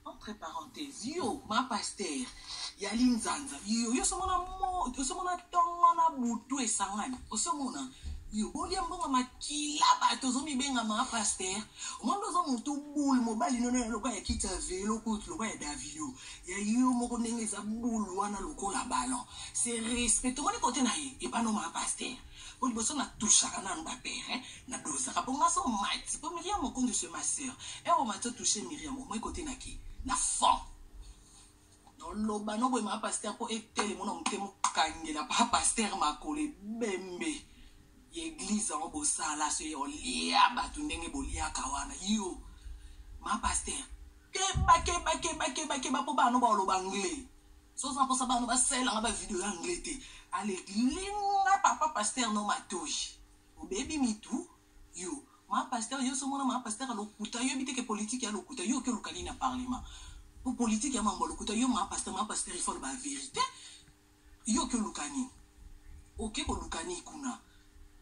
entre parenthèse yo ma pasteur ya linzanza yo yo somona osomona ntongo na butu esangani osomona yo bolia mbongo makila bato ozomibenga ma pasteur omoni oza motu bule mobali nono ya lokola ya kiti ya velo kutu lokola ya davio ya yo moko ndenge eza bule wana lokola ballon se respect omoni kote na ye epano ma pasteur Au liboso na touchaka nanu ba pere na dozaka po nga so mati po Miriam Mokondu c'est ma sœur heure omati o toucher Miriam omoi kote na ki na fond noloba noboye ma pasteur po etelemo na motema okangela pa pasteur makolo ebembe ya eglize yango bosala so ye olia bato ndenge boliaka wana yo ma pasteur keba keba keba keba keba po bana baoloba anglais Soki oza na mposa bana basalela nga ba video ya anglais te, ale linga papa pasteur no matoyi. Obebi mitu yo. Ma pasteur yo somona ma pasteur lokuta yo biteke politique ya lokuta yo ke lukali na parlement. Pour politique ya mambo lokuta yo ma pasteur ma pasteur il faut ba vérité. Yo ke lukani. Oke ko lukani kuna.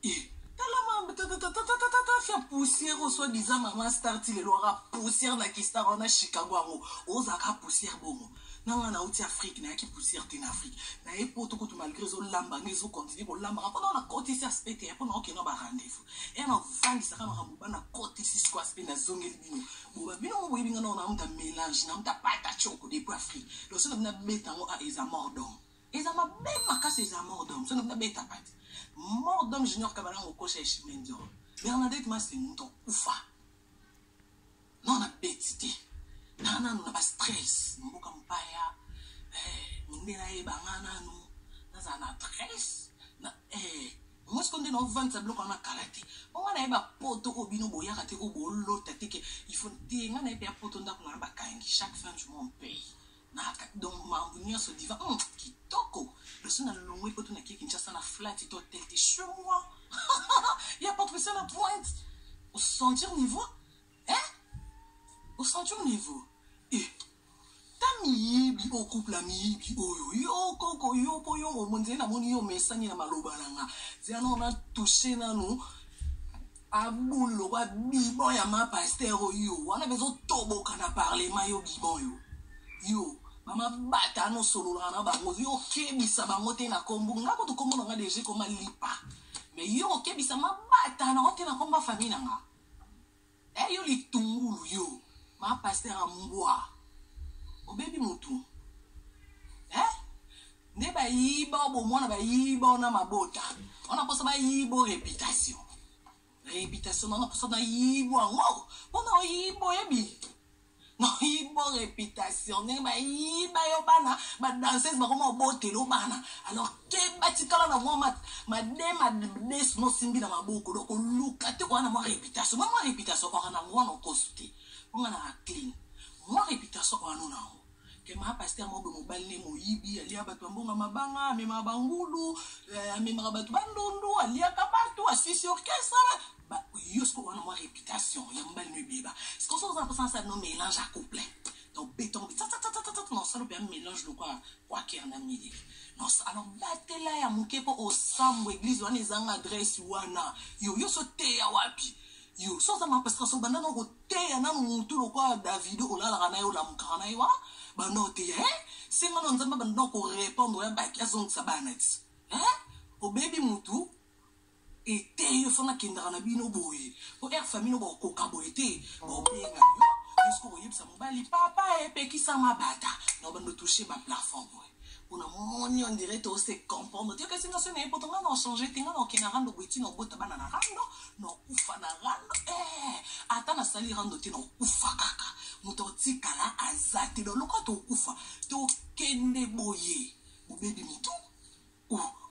Eh, tala mambe tatatatatatatatafia poussière oswa diza mama star ti lelo aka poussière na kistar wana chicago yango ozaka poussière bongo na nga nauti afrique nayaki poussière te na afrique naye poto kutu malgré ezolamba nga ezokontinue kolambaka mpona na kotisi aspe te mpona okenda ba rendez-vous e navandisaka makambo bana kotisi siko aspe nazongeli bino boba bino ngo boyebi nga nao namuta mélange namuta pata choko depuis afrique losona bino abeta yango a eza mordom Eza mabe makasi eza mort d'homme. Soki na beta pati. Mort d'homme junior kabala ngokosha eshime ndio. Bernadette Masi muto kufa. Non na beti te. Na nanu na ba stress. Mboka mpaya. Eh, minde na ye banga nanu. Naza na stress. Na eh moi sikoyo nde naovandisa biloko wana kala te po ngai naye bapoto oyo bino boyaka te oyo bolota te ke ifo te ngai naye mpe ya poto ndako na yo bakangi chaque fin du mois mpei Naka donc mambu nionso diva hum, kitoko loso na longwe poto na kie Kinshasa na flat to hotel te chez moi ya Patricia la pointe au sentir niveau hein au sentir niveau eh ta miyibi o couple ya miyibi oyo yo koko yo po yo omonzeli namoni yo omesani na maloba na nga zia nao na touche nanu Ba boule lokola bibon ya ma pasteur oyo wana bezo toboka na parlement yo bibon yo yo mama bata no sololaka na bango yo okebisa bango te na kombo nga kutu kombo na nga deja ekoma lipa mais yo okebisa mabata na ote na kombo ya famille na nga e yo litungulu yo ma pasteur ya mbwa obebi motu eh? nde bayiba o bomwana bayiba ona mabota ona posa bayiba o reputation reputation na ona posa nayibo yango mpona oyiba oyebi nayibo reputation ndenge bayiba yo bana badanseuse bakoma obotelo bana alors ke batikala na mwa made madesu nosimbi na maboko donc oluka te koya na mwa reputation mwa mwa reputation oka na mwana okosu te onga na clean mwa reputation oya no na yango Kema pasteur mobe mobali ne moyibi alia bato ya mbongo ya mabanga amemaka bangulu eh, amemaka bato bandundu aliaka bato asisi orchestre ba- ba- yo siko wana mwa réputation ya mobali no ebeba sikoso oza mposa nasala no mélange à couplet donc béton tatatatatatat nasala mpe ya mélange lokola kwaker na mili Nos, alors batela ya moke mpo osambwa église wana ezanga adresse wana yo yo so teya wapi yo so oza mapasika so banda na ko teya nanu mutu lokola davido olalaka na ye olamukaka na ye wana banda oteya e senga na nzambe banda korepondre ya baki azongisa bana ti e obebi mutu eteyi ofana kendaka na bino boye po air famille no bakokoka boye te baobenga yo juske oyebisa mobali papa epekisa mabata na banda otouche baplafond boye pona moni on dirait to se comprendre te kasi ngasoni ye poto ngai na ochange te ngai na okenda rando boye ti na obota bana na rando na okufa na rando eh, ata nasali rando te na okufa kaka moto otikala aza te na loka tokufa tokende boye bobebi motu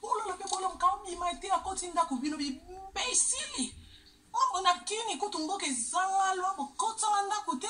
olala mpe bola mokao bima te akoti ndako bino bibesili mambo na kini kutu mboka ezanga lwa bokotanga ndako te